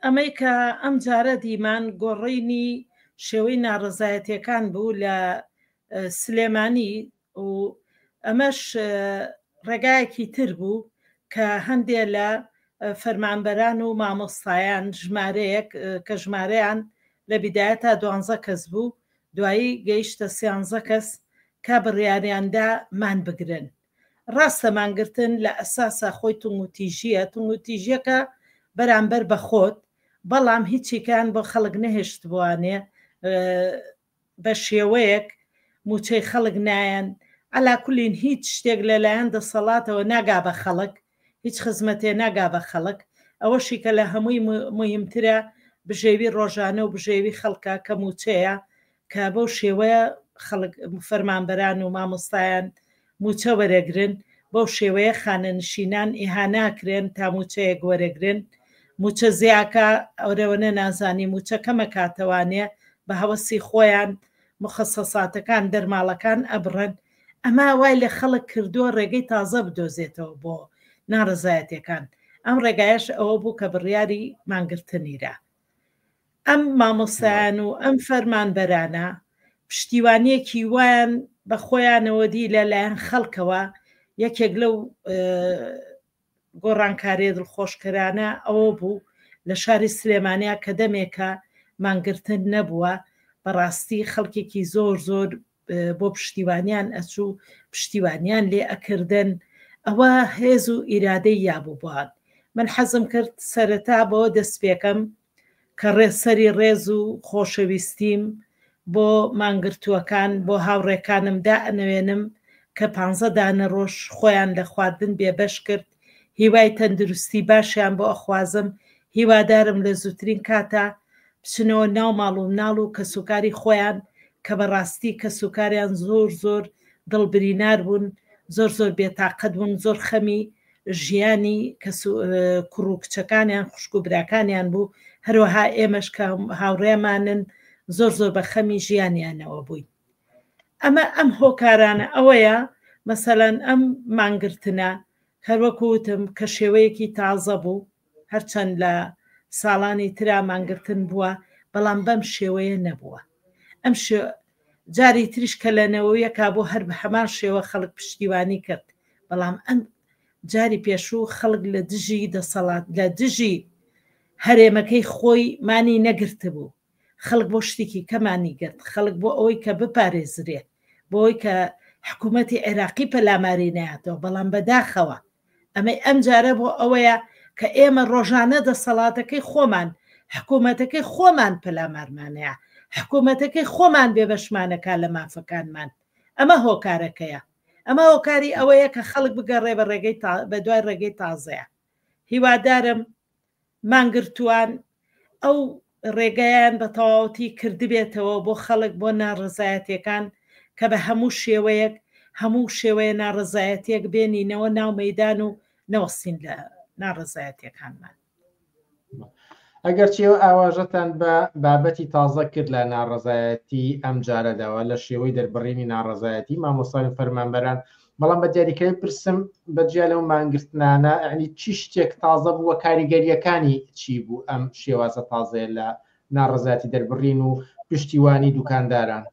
ئەمەی کە ئەم جارە دیمان گۆڕینی شێوەی ناڕەزایەتیەکان بوو لە سلێمانی و ئەمەش ڕێگایەکی تر بوو کە هەندێ لە فەرمانبەران و مامۆستایان ژمارەیەک کە ژمارەیان لە بیدایە تا دوانزە کەس بوو دوایی گەیشتە سیانزە کەس کە بڕیاریاندا مان بگرن ڕاستە مانگرتن لە ئەساسا خۆی توندوتیژییە، توندوتیژییەکە بەرامبەر بە خۆت، بەڵام هیچیکان بۆ خەڵک نەهێشتبوانێ بە شێوەیەک مووچەی خەڵک نایەن، عەلاکولین هیچ شتێک لە لایەن دەسەڵاتەوە ناگا بە خەڵک، هیچ خزمەتێ ناگا بە خەڵک ئەوەشی کە لە هەمووی موهیمترە بژێوی ڕۆژانە و بژێوی خەڵکە کە موچەیە کە بەو شێوەیە خەڵک فەرمانبەران و مامۆستایان موچە وەرەگرن بەو شێوەیە خانەنشینان ئیهاناکرێن تا موچەیەک وەرەگرن موچە زیاکە ئەورەوەنە نازانی موچە کەمە کاتەوانێ بە هەوەسی خۆیان مخصصاتەکان دەرماڵەکان ئەبڕن ئەمە وای لە خەڵک کردووە ڕێگەی تازە بدۆزێتەوە بۆ ناڕەزایەتیەکان، ئەم ڕێگایەش ئەوە بوو کە بڕیاری مانگرتنیرا. ئەم مامۆستایان و ئەم فەرمانبەرانە پشتیوانیەکی وایان بە خۆیانەوە دی لە لایەن خەڵکەوە یەکێک لەو گۆڕانکاریە دڵخۆشکەرانە ئەوە بوو لە شاری سلێمانیا کە دەمێکە مانگرتن نەبووە بەڕاستی خەڵکێکی زۆر زۆر بۆ پشتیوانیان ئەچوو پشتیوانیان لێ ئەکردن ئەوە هێز و ئیرادەی یابووبان من حەزم کرد سەرەتا بەوە دەست پێکەم کە ڕێ سەری ڕێز و خۆشەویستیم بۆ مانگرتووەکان بۆ هاوڕێکانم دائەنەوێنم کە پانزە دانە ڕۆژ خۆیان لە خواردن بێبەش کرد هیوای تەندروستی باشیان بۆ ئەخوازم هیوادارم لە زووترین کاتا بچنەوە ناو ماڵ و مناڵ و کەسوکاری خۆیان کە بە ڕاستی کەسوکاریان زۆر زۆر دڵ برینار بوون زۆر زۆر بێتاقەت بوون زۆر خەمی ژیانی کەس و کوڕ و کچەکانیان خوشک و براکانیان بوو هەروەها ئێمەش کە هاوڕێمانن زۆر زۆر بە خەمی ژیانیانەوە بووین ئەمە ئەم هۆکارانە ئەوەیە مەسەلەن ئەم مانگرتنە هەروەکوتم کە شێوەیەکی تازە بوو هەرچەند لە ساڵانی ترا مانگرتن بووە، بەڵام بەم شێوەیە نەبووە. ئەم شێ جاری تریش کە لە نەوەویەکا بوو هەر بە هەمان شێوە خەڵک پشتیوانی کرد، بەڵام ئەم جاری پێشوو خەڵک لە دژی دەسەڵات لە دژی هەرێمەکەی خۆی مانی نەگرتبوو. خەڵک بۆ شتێکی کەمانی گرت، خەڵک بۆ ئەوەی کە بپارێزرێ، بۆ ئەوەی کە حکوومەتی عێراقی پەلاماری نەیاتەوە، بەڵام بەداخەوە ئەمەی ئەمجارە بۆ ئەوەیە کە ئێمە ڕۆژانە دەسەڵاتەکەی خۆمان، حکوومەتەکەی خۆمان پەلامارمانەیە، حکوومەتەکەی خۆمان بێبەشمانەکا لە مافەکانمان. ئەمە هۆکارەکەیە. ئەمە هۆکاری ئەوەیە کە خەڵک بگەڕێ بە ڕێگەی تا، بە دوای ڕێگەی تازەیە. هیوادارم مانگرتووان ئەو ڕێگایان بە تەواوەتی کردبێتەوە بۆ خەڵک بۆ ناڕەزایەتیەکان کە بە هەموو شێوەیەک هەموو شێوەیە ناڕەزایەتیەک بێنینەوە ناو مەیدان و نەوەستین لە ناڕەزایەتیەکانمان. ئەگەرچی ئەو ئاواژەتان بە بابەتی تازە کرد لە ناڕەزایەتی ئەم جارەداوە لە شێوەی دەربڕینی ناڕەزایەتی مامۆستاوی فەرمانبەران بەڵام بە دیاریکراوی پرسم بە جیا لەو مانگرتنانە ئەنی چی شتێک تازە بووە کاریگەریەکانی چی بوو ئەم شێوازە تازەیە لە ناڕزاتی دەربڕین و پشتیوانی دوکانداران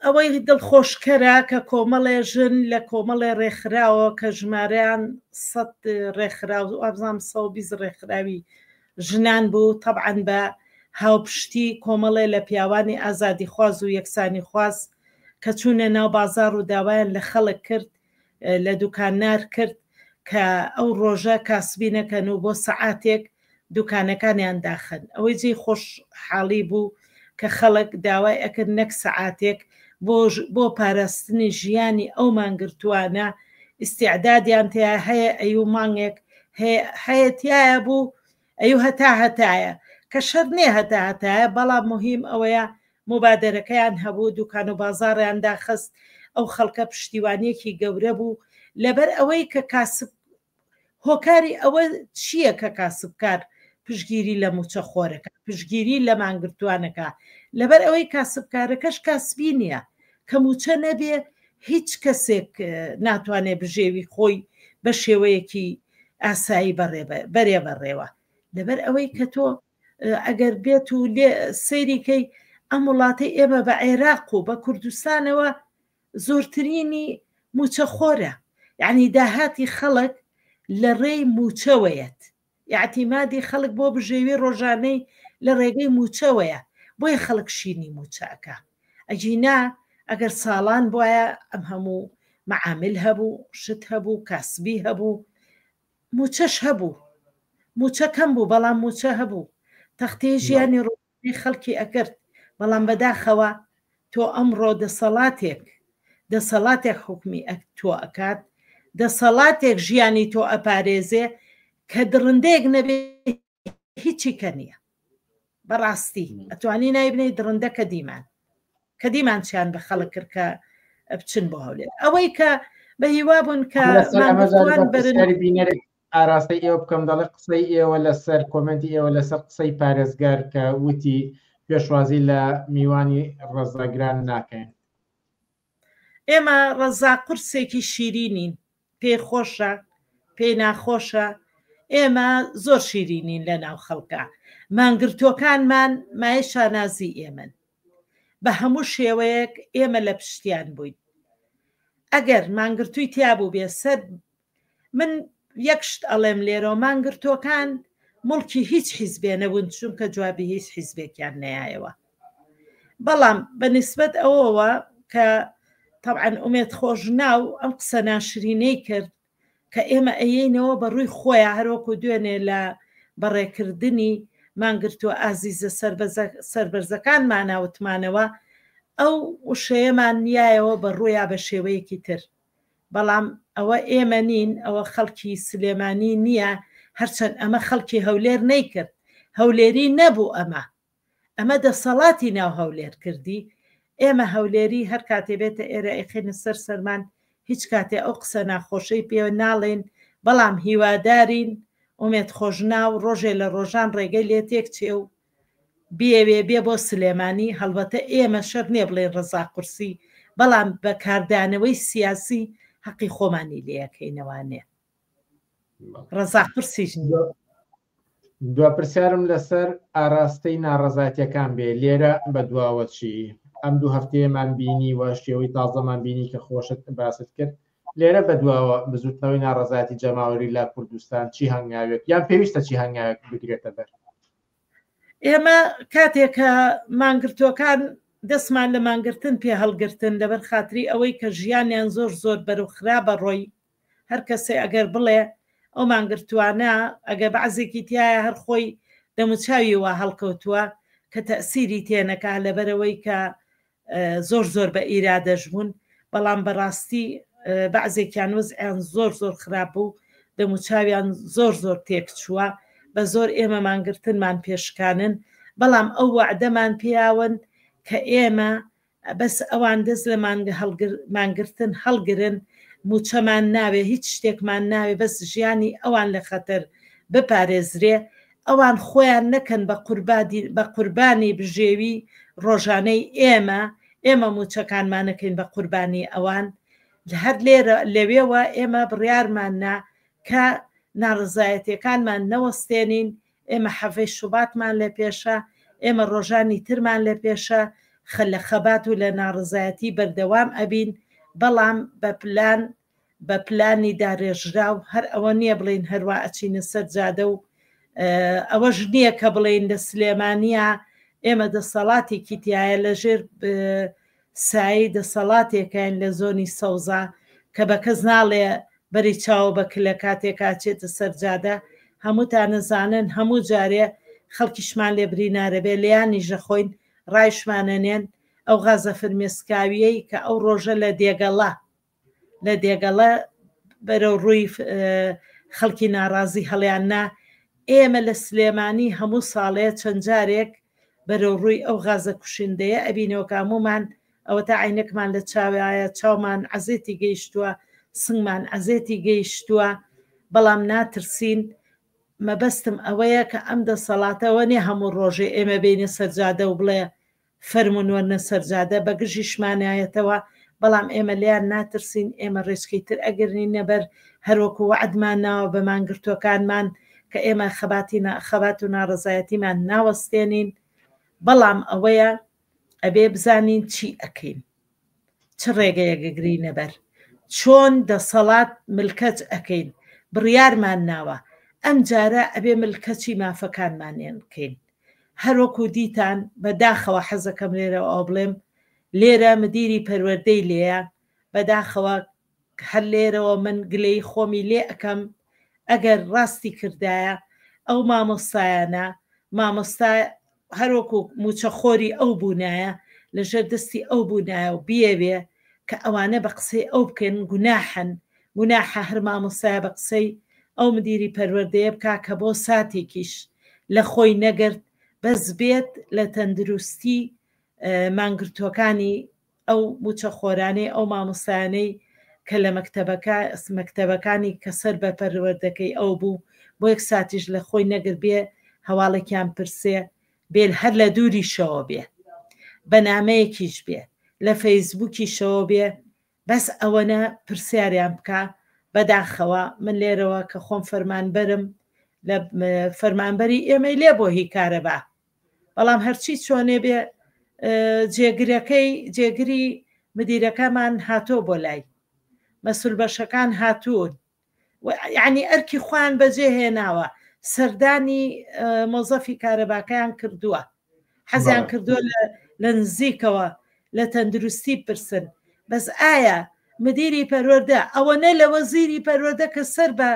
ئەوەی دڵخۆشکەرە کە کۆمەڵێ ژن لە کۆمەڵێ ڕێکخراوە کە ژمارەیان سە ڕێکخراو ئابزانام سەبیز ڕێکخراوی ژنان بوو، تەبعەن بە هاوپشتی کۆمەڵێ لە پیاوانی ئازادیخواز و یەکسانیخواز کە چوونە ناو بازاڕ و داوایان لە خەڵک کرد، لە دوکاننار کرد کە ئەو ڕۆژە کاسبی نەکەن و بۆ سەعاتێک دوکانەکانیان داخەن. ئەوەی جێی خۆشحاڵی بوو، کە خەڵک داوای ئەکرد نەک سەعاتێک بۆ بۆ پاراستنی ژیانی ئەو مانگرتووانە ئیستیعدادیان تیا هەیە ئەیوو مانگێک هەیە تایە بوو ئەیوو هەتا هەتایە کە شەر نێ هەتا هەتایە بەڵام مهم ئەوەیە مبادرەکەیان هەبوو دوکان و بازاڕیان داخست ئەو خەڵکە پشتیوانیەکی گەورە بوو لەبەر ئەوەی کە کاسب هۆکاری ئەوە چییە کە کاسبکار پشگیری لە مووچەخۆرەکە پشگیری لە مانگرتووانەکە لەبەر ئەوەی کاسبکارەکەش کاسبی نییە کە مووچە نەبێ هیچ کەسێک ناتوانێ بژێوی خۆی بە شێوەیەکی ئاسایی بەڕێ بەرێ بەڕێوە لەبەر ئەوەی کە تۆ ئەگەر بێت و لێ سەیریکەی ئەم وڵاتەی ئێمە بە عێراق و بە کوردستانەوە زۆرترینی موچە خۆرە یانی داهاتی خەڵک لە رێی موچەوەیەت ئیعتیمادی خەڵک بۆ بژێوی رۆژانەی لە رێگەی موچەوەیە بۆیە خەڵک شینی موچە ئەکا ئەگینا ئەگەر ساڵان بوایە ئەم هەموو معامل هەبوو شت هەبوو کاسبی هەبوو موچەش هەبوو موچە کەم بوو بەڵام موچە هەبوو تەختەی ژیانی رۆ ی خەڵکی ئەکرد، بەڵام بەداخەوە تۆ ئەمڕۆ دەسەڵاتێک دەسەڵاتێک حوکمی تۆ ئەکات، دەسەڵاتێک ژیانی تۆ ئەپارێزێ کە دڕندەیەک نەبێ هیچی کە نییە. بەڕاستی ئەتوانی نای بنێی دڕندە کە دیمان کە دیمان چیان بە خەڵک کرد کە بچن بۆ هەولێر ئەوەی کە بە هیوا بوون کە بینەرێک ئاراستەی ئێوە بکەم دەڵێ قسەی ئێوە لەسەر کۆمێنتی ئێوە لەسەر قسەی پارێزگار کە وتی پێشوازی لە میوانی ڕەزاگران ناکەین. ئێمە ڕەزا قورسێکی شیرینین پێی خۆشە پێی ناخۆشە ئێمە زۆر شیرینین لە ناو خەڵکە مانگرتوەکانمان مای شانازی ئێمن بە هەموو شێوەیەک ئێمە لە پشتیان بووین ئەگەر مانگرتووی تیابوو بێ سەر من یەک شت ئەڵێم لێرەوە مانگرتووەکان مڵکی هیچ حیزبێ نەبوون چونکە جوابی هیچ حیزبێکیان نەیایەوە بەڵام بە نسبەت ئەوەوە کە طبعاً ئومێت خۆش ناو ئەم قسە ناشرینەی کرد کە ئێمە ئەیینەوە بە ڕووی خۆیان هەروەکو دوێنێ لە بەڕێکردنی مانگرتووە ئازیزە سربەرزەکان ماناوتمانەوە ئەو وشەیەمان نیایەوە بە ڕوویا بە شێوەیەکی تر بەڵام ئەوە ئێمە نین ئەوە خەڵکی سلێمانی نیە هەرچەند ئەمە خەڵکی هەولێر نەیکرد هەولێری نەبوو ئەمە ئەمە دەسەڵاتی ناو هەولێر کردی ئێمە هەولێری هەر کاتێ بێتە ئێرە ئەیخێنە سەر سەرمان هیچ کاتێ ئەو قسە ناخۆشەی پێوە ناڵێن بەڵام هیوادارین ئومێد خۆشناو ڕۆژێ لە ڕۆژان ڕێگەی لێ تێک چێ و بیەوێ بێ بۆ سلێمانی هەڵبەتە ئێمە شەرت نیە بڵێین ڕەزا قورسی بەڵام بە کاردانەوەی سیاسی هەقی خۆمانی لێ ئەکەینەوە نێ ڕەزا قورسیش نیە. دوا پرسیارم لەسەر ئاراستەی ناڕەزایتیەکان بێ لێرە بە دواوە چی ئەم دوو هەفتەیەمان بینی وە شێوەی تازەمان بینی کە خۆشت باست کرد لێرە بەدواوە بزووتنەوەی ناڕەزایەتی جەماوەری لە کوردستان چی هەنگاوێک یان پێویستە چی هەنگاوێک بگرێتە بەر؟ ئێمە کاتێک کە مانگرتووەکان دەستمان لە مانگرتن پێ هەڵگرتن لەبەر خاتری ئەوەی کە ژیانیان زۆر زۆر بەرو خراپە ڕۆی هەر کەسێ ئەگەر بڵێ ئەو مانگرتوانە ئەگە بەعزێکی تایە هەر خۆی دەموچاوی وا هەڵکەوتووە کە تەسیری تێنەکە لەبەرەوەی کە زۆر زۆر بە ئیرادەش بوون بەڵام بەڕاستی بەعزێکیان وزعیان زۆر زۆر خراپ بوو دەموچاویان زۆر زۆر تێک چووە بە زۆر ئێمە مانگرتنمان پێشکانن بەڵام ئەو وەعدەمان پیاون کە ئێمە بەس ئەوان دەست لە مانگە هەڵگر مانگرتن هەڵگرن موچەمان ناوێ هیچ شتێکمان ناوێ بەس ژیانی ئەوان لە خەتەر بپارێزرێ ئەوان خۆیان نەکەن بە قوربانی بژێوی ڕۆژانەی ئێمە، ئێمە مووچەکانمان نەکەین بە قوربانی ئەوان. هەر لەوێوە ئێمە بڕیارمان نا کە ناڕەزایەتییەکانمان نەوەستێنین، ئێمە حەڤەی شوباتمان لە پێشە، ئێمە ڕۆژانی ترمان لە پێشە، لە خەبات و لە ناڕەزایەتی بەردەوام ئەبین، بەڵام بە پلان بە پلانی دارێژراو هەر ئەوە نییە بڵێین هەروا ئەچینە سەر جادە و ئەوەش نییە کە بڵێین لە سلێمانیا ئێمە دەسەڵاتێکی تایە لەژێر سایی دەسەڵاتێکین لە زۆنی سەوزە کە بە کەس ناڵێ بەری چاوە بە کلە کاتێکا چێتە سەرجادە هەمووتان نەزانن هەموو جارێ خەڵکیشمان لێ برینارە بێ لیانی ژەخۆین ڕایشمانەنێن ئەو غازە فرمێسکاویەی کە ئەو ڕۆژە لە دێگەڵە لە دێگەڵە بەرەو ڕووی خەڵکی ناڕازی هەڵیان نا، ئێمە لە سلێمانی هەموو ساڵێ چەند جارێک بەرەو ڕووی ئەو غازە کوشندەیە ئەبینەوە کە هەموومان ئەوەتا عەینەکمان لە چاوایە چاومان عەزێتی گەیشتووە سنگمان عەزێتی گەیشتووە بەڵام ناترسین مەبەستم ئەوەیە کە ئەم دەسەڵاتەوە نیە هەموو ڕۆژێ ئێمە بێینە سەرجادە و بڵێ فەرموون وەرنە سەر جادە، بە گژیشمانایەتەوە، بەڵام ئێمە لێیان ناترسین، ئێمە رێچکەی تر ئەگرنینە بەر، هەروەکو وەعدمان ناوە بە مانگرتووەکانمان کە ئێمە خەباتی خەبات و ناڕەزایەتیمان ناوەستێنین، بەڵام ئەوەیە ئەبێ بزانین چی ئەکەین. چ ڕێگەیەک گرینە بەر چۆن دەسەڵات ملکەچ ئەکەین بڕیارمان ناوە ئەمجارە ئەبێ ملکەچی مافەکانمانێن کەین هەروەکو دیتان بەداخەوە حەزەکەم لێرەوە ئەو بڵێم لێرە مدیری پەروەردەی لێە بەداخەوە هەر لێرەوە من گلەیی خۆمی لێ ئەکەم ئەگەر ڕاستی کردایە ئەو مامۆستایانە مامۆستا هەر وەکو موچە خۆری ئەو بونایە لە ژێر دەستی ئەو بونایە و بیەوێ کە ئەوانە بە قسەی ئەو بکەن گوناحن گوناحە هەر مامۆستایە بە قسەی ئەو مدیری پەروەردەیە بکا کە بۆ ساتێکیش لە خۆی نەگرت بەس بێت لە تەندروستی مانگرتوەکانی ئەو موچەخۆرانەی ئەو مامۆستایانەی کە لە مەکتەبەکە مەکتەبەکانی کە سەر بە پەروەردەکەی ئەو بوو بۆ یەک ساتیش لە خۆی نەگرت بێ هەواڵێکیان پرسێ بێ هەر لە دووریشەوە بێ بە نامەیەکیش بێ لە فەیسبووکیشەوە بێ بەس ئەوەنە پرسیاریان بکە بەداخەوە من لێرەوە کە خۆم فەرمانبەرم لە فەرمانبەری ئێمەی لێ بۆ هی کارەبا بەڵام هەرچی چۆنێ بێ جێگرەکەی جێگری مدیرەکەمان هاتۆ بۆ لای مەسول بەشەکان هاتوون ینی ئەرکی خوان بەجێ هێناوە سەردانی مۆزەفی کارەباکەیان کردووە حەزیان کردووە لە نزیکەوە لە تەندروستی پرسن بەس ئایا مدیری پەروەەردە ئەوە نە لە وەزیری پەروەەردە کە سەر بە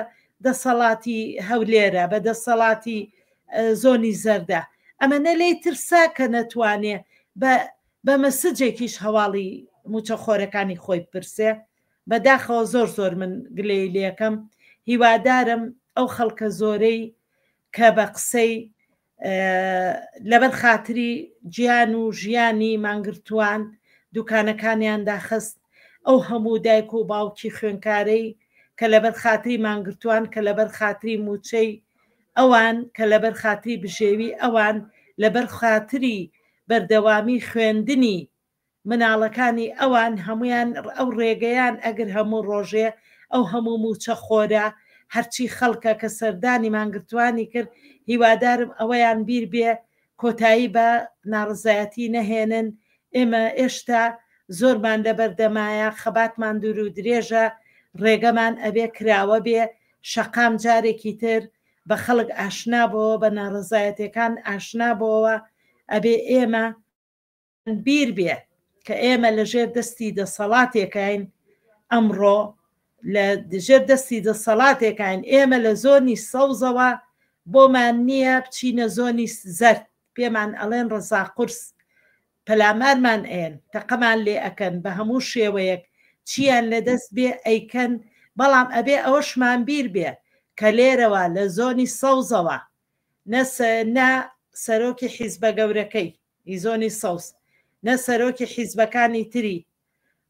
دەسەڵاتی هەولێرە بە دەسەڵاتی زۆنی زەردە ئەمەنە لێی ترسا کە نەتوانێ بە بە مەسجێکیش هەواڵی موچە خۆرەکانی خۆی بپرسێ بەداخەوە زۆر زۆر من گلەی لەکەم هیوادارم ئەو خەڵکە زۆرەی کە بە قسەی لەبەر خاتری گیان و ژیانی مانگرتووان دوکانەکانیان داخست ئەو هەموو دایک و باوکی خوێنکارەی کە لەبەر خاتری مانگرتووان کە لەبەر خاتری موچەی ئەوان کە لەبەر خاتری بژێوی ئەوان، لەبەر خاتری بەردەوامی خوێندنی مناڵەکانی ئەوان، هەموویان ئەو رێگەیان ئەگر هەموو رۆژێ ئەو هەموو مووچە خۆرە هەرچی خەڵکە کە سەردانی مانگرتوانی کرد، هیوادارم ئەوەیان بیر بێ کۆتایی بە ناڕزایەتی نەهێنن، ئێمە ئێشتا زۆرمان لەبەردەمایە، خەباتمان دورو درێژە، ڕێگەمان ئەبێ کراوە بێ، شەقام جارێکی تر بە خەڵک ئاشنا بۆوە، بە ناڕزایەتێکان ئاشنا بۆوە، ئەبێ ئێمە. بیر بێ کە ئێمە لە ژێر دەستی دەسەڵاتێکین ئەمڕۆ لە دژێر دەستی دەسەڵاتێکین ئێمە لە زۆنی سەوزەوە بۆمان نییە بچینە زۆنی زەر پێمان ئەڵێن ڕزا قرس پەلامارمان ئەن تەقەمان لێ ئەەکەن بە هەموو شێوەیەک چیان لە دەست بێ ئەیکەن بەڵام ئەبێ ئەوەشمان بیر بێ کە لێرەوە لە زۆنی سەوزەوە نە سەرۆکی حیزبە گەورەکەی ئیزۆنی سەوز نە سەرۆکی حیزبەکانی تری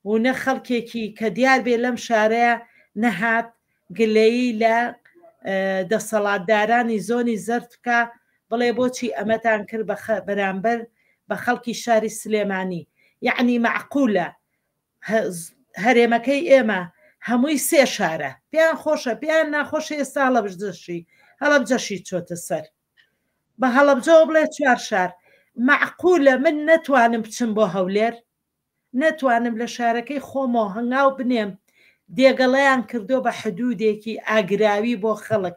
و نە خەڵکێکی کە دیار بێ لەم شارەیە نەهات گلەیی لە دەسەڵاتدارانی زۆنی زەرد بکا بڵێ بۆچی ئەمەتان کرد بە بەرامبەر بە خەڵکی شاری سلێمانی یعنی مەعقولە هەرێمەکەی ئێمە هەمووی سێ شارە پێیان خۆشە پێیان ناخۆشە ئێستا هەڵەبژدەشی هەڵەبجەشی چۆتە سەر بە هەڵەبجەوە بڵێ چوار شار مەعقولە من نەتوانم بچم بۆ هەولێر نەتوانم لە شارەکەی خۆمەوە هەنگاو بنێم دێگەڵیان کردووە بە حدوودێکی ئاگراوی بۆ خەڵک